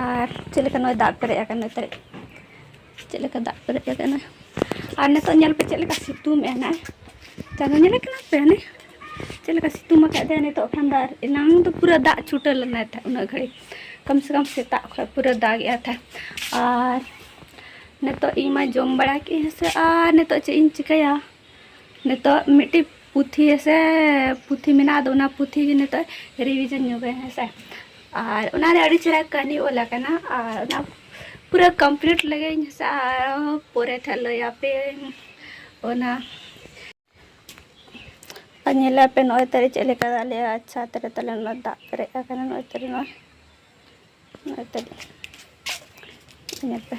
ᱟᱨ ᱪᱮᱫ ᱞᱮᱠᱟ ᱱᱚᱜᱼᱚᱭ ᱫᱟᱜ ᱯᱮᱨᱮᱡ ᱟᱠᱟᱱᱟ ᱮᱱᱛᱮᱫ ᱪᱮᱫ ᱞᱮᱠᱟ ᱫᱟᱜ ᱯᱮᱨᱮᱡ ᱟᱠᱟᱱᱟ ᱟᱨ ᱱᱤᱛᱚᱜ ᱧᱮᱞ ᱯᱮ ᱪᱮᱫ ᱞᱮᱠᱟ ᱥᱤᱛᱩᱝ ᱮᱜᱼᱟ ᱱᱟᱜ ᱪᱟᱸᱫᱚ ᱧᱮᱞᱮ ᱠᱟᱱᱟ ᱯᱮ ᱦᱟᱱᱮ ᱪᱮᱫ ᱞᱮᱠᱟ ᱥᱤᱛᱩᱝ ᱟᱠᱟᱫ ᱫᱮᱭᱟ ᱱᱤᱛᱚᱜ ᱠᱷᱟᱱ ᱫᱚ ᱟᱨ ᱮᱱᱟᱝ ᱫᱚ ᱯᱩᱨᱟᱹ ᱫᱟᱜ ᱪᱷᱩᱴᱟᱹᱣ ᱞᱮᱱᱟ ᱛᱟᱦᱮᱸᱫ ᱩᱱᱟᱹᱜ ᱜᱷᱟᱹᱲᱤᱡ ᱠᱚᱢ ᱥᱮ ᱠᱚᱢ ᱥᱮᱛᱟᱜ ᱠᱷᱚᱱ ᱯᱩᱨᱟᱹ ᱫᱟᱜ ᱮᱜᱼᱟ ᱛᱟᱦᱮᱸᱫ ᱟᱨ ᱱᱤᱛᱚᱜ ᱤᱧ ᱢᱟ ᱡᱚᱢ ᱵᱟᱲᱟ ᱠᱮᱫ ᱦᱮᱸᱥᱮ ᱟᱨ ᱱᱤᱛᱚᱜ ᱪᱮᱫ ᱤᱧ ᱪᱤᱠᱟᱹᱭᱟ ᱱᱤᱛᱚᱜ ᱢᱤᱫᱴᱤᱡ ᱯᱩᱛᱷᱤ ᱥᱮ ᱯᱩᱛᱷᱤ ᱢᱮᱱᱟᱜᱼᱟ ᱟᱫᱚ ᱚᱱᱟ ᱯᱩᱛᱷᱤ ᱜᱮ ᱱᱤᱛᱚᱜ ᱨᱤᱵᱷᱤᱡᱚᱱ ᱧᱚᱜᱟᱹᱧ ᱦᱮᱸ ᱥᱮ ᱟᱨ ᱚᱱᱟ ᱨᱮ ᱟᱹᱰᱤ ᱪᱮᱦᱨᱟ ᱠᱟᱹᱦᱱᱤ ᱚᱞ ᱟᱠᱟᱱᱟ ᱟᱨ ᱚᱱᱟ ᱯᱩᱨᱟᱹ ᱠᱚᱢᱯᱞᱤᱴ ᱞᱮᱜᱮᱧ ᱦᱮᱸ ᱥᱮ ᱟᱨᱦᱚᱸ ᱯᱚᱨᱮ ᱛᱮ ᱦᱟᱸᱜ ᱞᱟᱹᱭ ᱟᱯᱮᱭᱟᱹᱧ ᱚᱱᱟ ᱟᱨ ᱧᱮᱞᱟᱯᱮ ᱱᱚᱜᱼᱚᱭ ᱛᱟᱞᱮ ᱪᱮᱫ ᱞᱮᱠᱟ ᱫᱟᱜ ᱞᱮᱜᱼᱟᱭ ᱟᱪᱪᱷᱟ ᱛᱟᱦᱞᱮ ᱛᱟᱦᱞᱮ ᱚᱱᱟ ᱫᱟᱜ ᱯᱮᱨᱮᱡ ᱟᱠᱟᱱᱟ ᱱᱚᱜᱼᱚᱭ ᱛᱟᱞᱮ ᱱᱚᱣᱟ ᱱᱚᱜᱼᱚᱭ ᱛᱟᱹᱞᱤᱧ ᱧᱮᱞ ᱯᱮ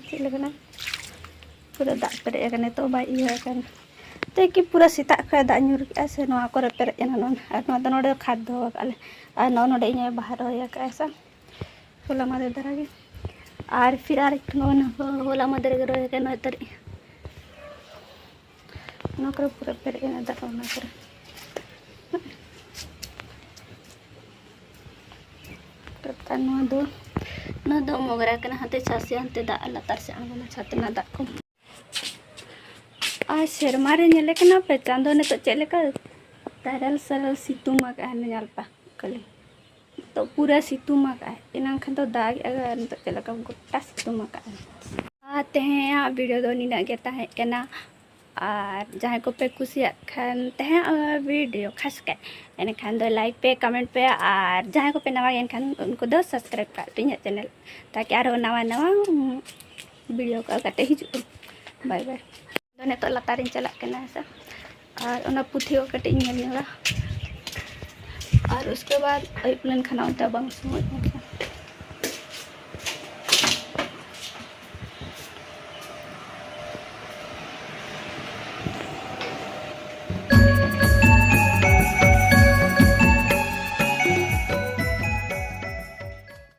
ᱪᱮᱫ ᱞᱮᱠᱟᱱᱟ ᱯᱩᱨᱟᱹ ᱫᱟᱜ ᱯᱮᱨᱮᱡ ᱟᱠᱟᱱᱟ ᱱᱤᱛᱚᱜ ᱵᱟᱭ ᱤᱭᱟᱹ ᱟᱠᱟᱱᱟ ᱛᱮ ᱠᱤ ᱯᱩᱨᱟᱹ ᱥᱮᱛᱟᱜ ᱠᱷᱚᱡ ᱫᱟᱜ ᱧᱩᱨ ᱠᱮᱜᱼᱟ ᱥᱮ ᱱᱚᱣᱟ ᱠᱚᱨᱮ ᱯᱮᱨᱮᱡ ᱮᱱᱟ ᱱᱚᱣᱟ ᱟᱨ ᱱᱚᱣᱟ ᱫᱚ ᱱᱚᱰᱮ ᱠᱷᱟᱫᱽ ᱫᱚᱦᱚ ᱟᱠᱟᱫ ᱞᱮ ᱟᱨ ᱱᱚᱜᱼᱚ ᱱᱚᱰᱮ ᱤᱧ ᱵᱟᱦᱟ ᱨᱚᱦᱚᱭ ᱟᱠᱟᱫᱼᱟ ᱥᱮ ᱦᱚᱞᱟ ᱢᱟᱫᱮᱨ ᱫᱷᱟᱨᱟ ᱜᱮ ᱟᱨ ᱯᱷᱤᱨ ᱟᱨ ᱱᱚᱜᱼᱚ ᱦᱚᱞᱟ ᱢᱟᱫᱮᱨ ᱜᱮ ᱨᱚᱦᱚᱭ ᱟᱠᱟᱫ ᱱᱚᱜᱼᱚᱭ ᱛᱟᱹᱨᱤᱡ ᱚᱱᱟ ᱠᱚᱨᱮ ᱯᱩᱨᱟᱹ ᱯᱮᱨᱮᱡ ᱮᱱᱟ ᱫᱟᱜ ᱚᱱᱟ ᱠᱚᱨᱮ ᱟᱨ ᱱᱚᱣᱟ ᱫᱚ ᱱᱚᱣᱟ ᱫᱚ ᱢᱚᱜᱽᱨᱟ ᱠᱟᱱᱟ ᱦᱟᱱᱛᱮ ᱪᱟᱥᱮ ᱦᱟᱱᱛᱮ ᱫᱟᱜ ᱞᱟᱛᱟᱨ ᱥᱮᱫ ᱟᱬᱜᱚᱱᱟ ᱪᱷᱟᱛ ᱨᱮᱱᱟᱜ ᱫᱟᱜ ᱠᱚ ᱟᱨ ᱥᱮᱨᱢᱟ ᱨᱮ ᱧᱮᱞᱮ ᱠᱟᱱᱟ ᱯᱮ ᱪᱟᱸᱫᱚ ᱱᱤᱛᱚᱜ ᱪᱮᱫ ᱞᱮᱠᱟ ᱛᱟᱨᱟᱞ ᱥᱟᱨᱟᱞ ᱥᱤᱛᱩᱝ ᱟᱠᱟᱫᱼᱟ ᱧᱮᱞ ᱯᱮ ᱠᱷᱟᱹᱞᱤ ᱛᱚ ᱯᱩᱨᱟᱹ ᱥᱤᱛᱩᱝ ᱟᱠᱟᱫ ᱮᱱᱟᱝ ᱠᱷᱟᱱ ᱫᱚ ᱫᱟᱜ ᱮᱫ ᱟᱨ ᱱᱤᱛᱚᱜ ᱪᱮᱫ ᱞᱮᱠᱟ ᱜᱚᱴᱟ ᱥᱤᱛᱩᱝ ᱟᱠᱟᱫ ᱟᱨ ᱛᱮᱦᱮᱧᱟᱜ ᱵᱷᱤᱰᱤᱭᱳ ᱫᱚ ᱱᱤᱱᱟᱹᱜ ᱜᱮ ᱛᱟᱦᱮᱸ ᱠᱟᱱᱟ ᱟᱨ ᱡᱟᱦᱟᱸᱭ ᱠᱚᱯᱮ ᱠᱩᱥᱤᱭᱟᱜ ᱠᱷᱟᱱ ᱛᱮᱦᱮᱧᱟᱜ ᱵᱷᱤᱰᱤᱭᱳ ᱠᱷᱟᱥ ᱠᱟᱭ ᱮᱱᱠᱷᱟᱱ ᱫᱚ ᱞᱟᱭᱤᱠ ᱯᱮ ᱠᱚᱢᱮᱱᱴ ᱯᱮ ᱟᱨ ᱡᱟᱦᱟᱸᱭ ᱠᱚᱯᱮ ᱱᱟᱣᱟ ᱜᱮᱭᱟ ᱮᱱᱠᱷᱟᱱ ᱩᱱᱠᱩ ᱫᱚ ᱥᱟᱵᱥᱠᱨᱟᱭᱤᱵ ᱠᱟᱜ ᱯᱮ ᱤᱧᱟᱹᱜ ᱪᱮᱱᱮᱞ ᱛᱟᱠᱤ ᱟᱨᱦᱚᱸ ᱱᱟᱣᱟ ᱱᱟᱣᱟ ᱵᱷᱤᱰᱤᱭᱳ ᱠᱚ ᱟᱞᱜᱟᱛᱮ ᱦᱤᱡᱩᱜ ᱵᱟᱭ ᱵᱟᱭ ᱫᱚ ᱱᱤᱛᱚᱜ ᱞᱟᱛᱟᱨᱤᱧ ᱪᱟᱞᱟᱜ ᱠᱟᱱᱟ ᱦᱮᱸᱥᱮ ᱟᱨ ᱚᱱᱟ ᱯᱩᱛᱷᱤ ᱦᱚᱸ ᱠᱟᱹᱴᱤᱡ ᱤᱧ ᱧᱮᱞ ᱧᱚᱜᱟ ᱟᱨ ᱩᱥᱠᱮ ᱵᱟᱫ ᱟᱹᱭᱩᱵ ᱞᱮᱱᱠᱷᱟᱱ ᱚᱱᱛᱮ ᱵᱟᱝ ᱥᱚᱢᱚᱭ ᱮᱱᱠᱷᱟᱱ